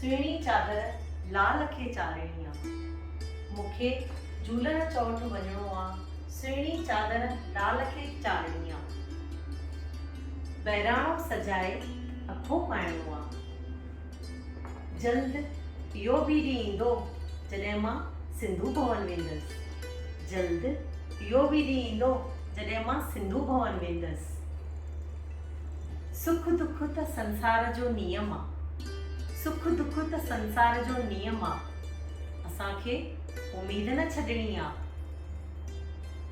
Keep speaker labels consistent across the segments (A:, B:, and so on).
A: سهڻي چادر لال کي چارڻي آ. مون کي جهولڻ چوٽ وڃڻو آ سهڻي چادر لال کي چارڻي آ. بهراڻو سجائي اکون پائڻو آ. جلد اهو به ڏينهن ايندو جڏهن مان سنڌو ڀون ويندس. جلد اهو به ڏينهن ايندو جڏهن مان سنڌو ڀون ويندس. سک دک ته سنسار جو نيم آ. سک دک ته سنسار جو نيم آ. اسان کي اميد نه ڇڏڻي آ.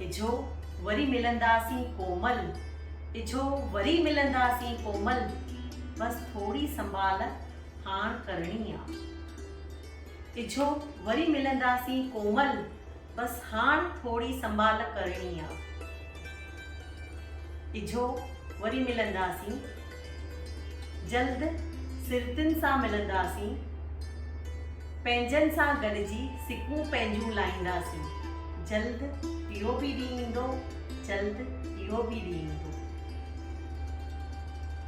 A: اجهو وري ملنداسين ڪومل. اجهو وري ملنداسين ڪومل. بس ٿوري سنڀال هاڻ ڪرڻي آ. اجهو وري ملنداسين ڪومل. بس هاڻ ٿوري سنڀال ڪرڻي آ. اجهو وري ملنداسين جلد سرتين سان ملنداسين پنهنجن سان گڏجي سڪون پنهنجون لائينداسين جلد اهو به ڏينهن ايندو جلد اهو به ڏينهن ايندو.